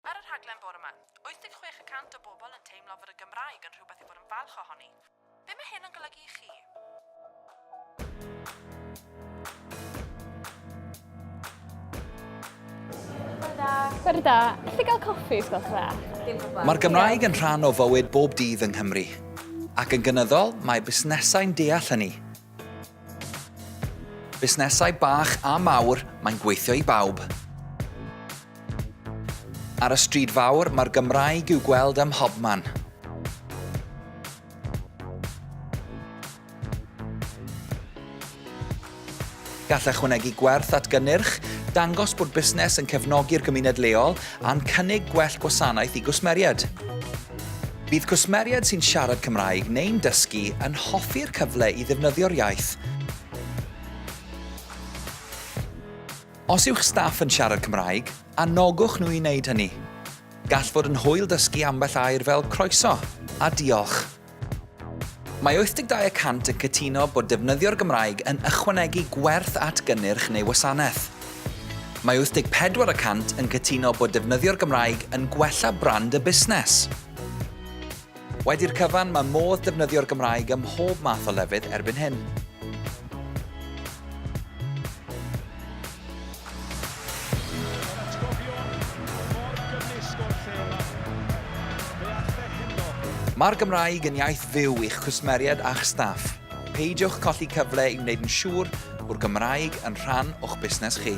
Ar y rhaglen bore 'ma, 86 y cant o bobl yn teimlo fod y Gymraeg yn rhywbeth i fod yn falch ohoni. Be mae hyn yn golygu i chi? Bore da. Bore da. gael coffi, os gwelwch dda? Dim problem. Mae'r Gymraeg yn rhan o fywyd bob dydd yng Nghymru. Ac yn gynyddol, mae busnesau'n deall hynny. Busnesau bach a mawr, mae'n gweithio i bawb. Ar y stryd fawr, mae'r Gymraeg i'w gweld ym mhobman. Gall ychwanegu gwerth at gynnyrch, dangos bod busnes yn cefnogi'r gymuned leol, a'n cynnig gwell gwasanaeth i gwsmeriaid. Bydd cwsmeriaid sy'n siarad Cymraeg neu'n dysgu yn hoffi'r cyfle i ddefnyddio'r iaith. Os yw'ch staff yn siarad Cymraeg, anogwch nhw i wneud hynny. Gall fod yn hwyl dysgu ambell air fel 'croeso' a 'diolch'. Mae 82 y cant yn cytuno bod defnyddio'r Gymraeg yn ychwanegu gwerth at gynnyrch neu wasanaeth. Mae 84 y cant yn cytuno bod defnyddio'r Gymraeg yn gwella brand y busnes. Wedi'r cyfan, mae modd defnyddio'r Gymraeg ym mhob math o lefydd erbyn hyn. Mae'r Gymraeg yn iaith fyw i'ch cwsmeriaid a'ch staff. Peidiwch colli cyfle i wneud yn siŵr bod Gymraeg yn rhan o'ch busnes chi.